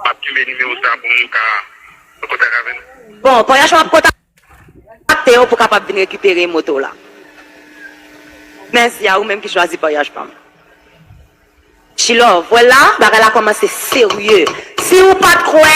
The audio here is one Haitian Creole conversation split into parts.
Map kenbe nimewo sa pou moun ka an kontak avè nou. Bon pnh map kontakte yo pou kapab vin rekipere moto w la. Mèsi a ou menm ki chwazi pnh pam. Chilove, wè la bagay la kòmanse serye. Si ou pat kwè.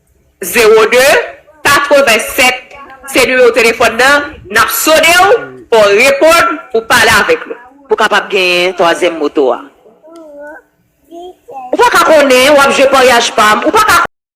02 87 se nimewo telefòn nan nap sonew fò w reponn pou pale avèk nou. Pou kapab genyen twazyèm moto a. Ou paka konnen wap jwe paryaj pam ou paka.